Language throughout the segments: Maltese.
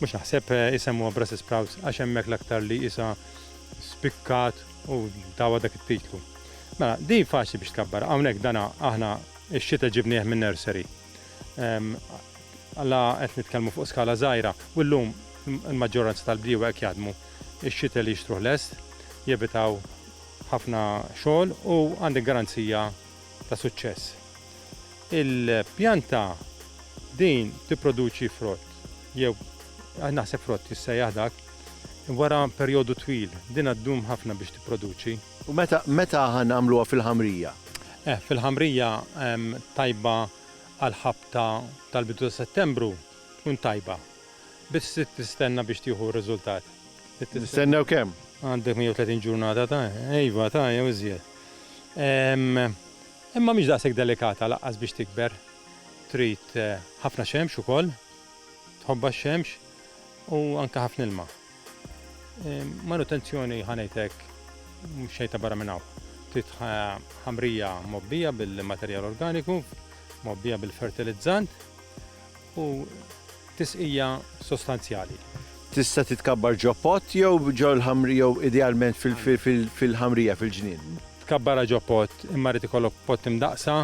Mhux naħseb isemmuha Brussels Sprouts għax hemmhekk l-aktar li qisha spikkat u tawha dak it-titlu. Mela, din faċli biex tkabbar. Hawnhekk dana aħna x-xita ġibnieh min-nursery. La qed nitkellmu fuq skala żgħira u llum il-maġġoranza tal-bdiewa hekk jaħdmu. Ix-xita li jixtruh lest, jevitaw ħafna xogħol u għandek garanzija ta' suċċess. Il-pjanta din tipproduċi frott jew naħseb frott jissejjaħ dak wara perjodu twil. Din ddum ħafna biex tipproduċi. U meta meta ħa nagħmluha fil-ħamrija? Eh, fil-ħamrija tajba għall-ħabta tal-bidu ta' Settembru tkun tajba. Biss trid tistenna biex tieħu r-riżultat. Nistennew kemm? Għandek 130 ġurnata ta' iva ta' jew iżjed. Imma mhix daqshekk delikata lanqas biex tikber. Trid ħafna xemx ukoll, tħobbha x-xemx u anke ħafna ilma. Manutenzjoni ħa ngħid hekk mhux xejn ta' barra minn hawn. Trid ħamrija mobbija bil-materjal organiku, mobbija bil-fertilizzant, u tisqija sostanzjali. Tista' titkabbar ġo pott jew ġo l-ħamrija jew idealment fil-ħamrija fil-ġnien. Tkabbarha ġo pott, imma rrid ikollok pott imdaqqsa,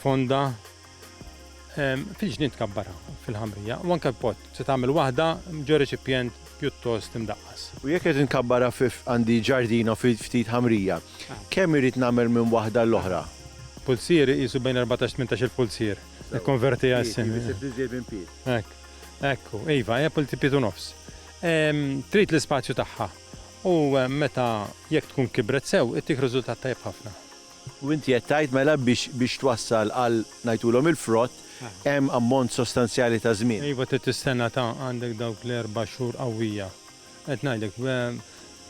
fonda, fil-ġnien tkabbarha fil-ħamrija u anke pott se tagħmel waħda ġo reċipjent pjuttost imdaqqas. U jekk qed inkabbarha għandi ġardino fi ftit ħamrija, kemm irrid nagħmel minn waħda għall-oħra? Pulzier iqisu bejn 14-18 il-pulzier. Ikkonverti għal sin. Isib iżjed minn pied. Hekk. Ekku, iva, hija pulti pied u nofs. Trid l-ispazju tagħha. U meta jekk tkun kibret sew, ittik riżultat tajjeb ħafna. U inti qed tgħid mela biex twassal għal ngħidulhom il-frott hemm ammont sostanzjali ta' żmien. Iva trid tistenna ta' għandek dawk l-erba' xhur qawwija. Qed ngħidlek,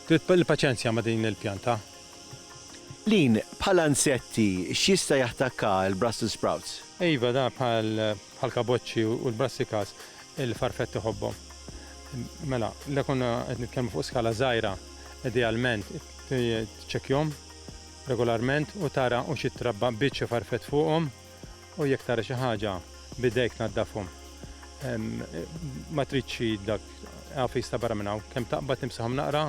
trid il-paċenzja ma' din il-pjanta. Lean, bħala nsetti, x'jista' jattakka l-Brussels sprouts? Iva, dan bħall-kaboċċi u l-brassicas, il-farfett iħobbhom. Mela, la konna qed nitkellmu fuq skala żgħira, idealment tiċċekkjhom regolarment u tara u xi trabba biċ xi farfett fuqhom. U jekk tara xi ħaġa b'idejk tnaddafhom. Ma tridx xi dak għafi jista' barra minn hawn. Kemm taqbad nimsahom naqra?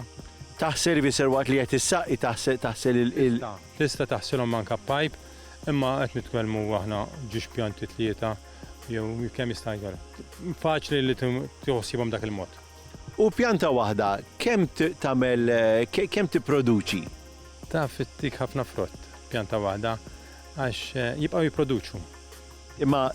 Taħt serviser waqt li qed issaqqi taħsel il-. Tista'. Tista' taħsilhom anke b'pajp, imma qed nitkellmu aħna ġiex pjanti tlieta jew kemm jista' jkun. Faċli li tieħu ħsiebhom b'dak il-mod. U pjanta waħda kemm tagħmel kemm tipproduċi? Taf ittik ħafna frott pjanta waħda. Għax jibqgħu jipproduċu. Imma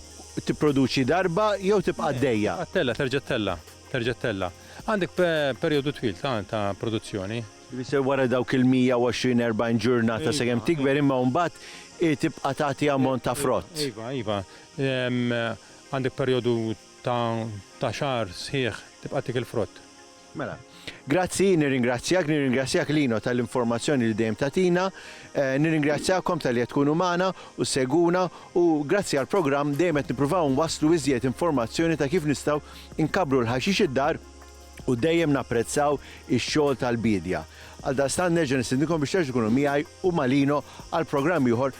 tipproduċi darba jew tibqa' għaddejja? Tibqa' tella', terġa' tella', terġa' tella'. Għandek perjodu twil ta' ta' produzzjoni. Ifisser wara dawk il-120, 40 ġurnata sakemm tikber imma mbagħad hi tibqa' tagħti ammont ta' frott. Iva, iva. Għandek perjodu ta' ta' xahar sħiħ tibqa' tiekel frott. Mela. Grazzi, nirringrazzjak, nirringrazzjak Lino tal-informazzjoni li dejjem tagħtina. Nirringrazzjakom talli qed tkunu magħna u ssegwuna u grazzi għall-programm dejjem qed nippruvaw nwasslu iżjed informazzjoni ta' kif nistgħu nkabbru l-ħaxix id-dar u dejjem napprezzaw ix-xogħol tal-biedja. Għaldaqstant nerġa' nistidinkom biex terġgħu tkunu miegħi u ma' Lino għal programm ieħor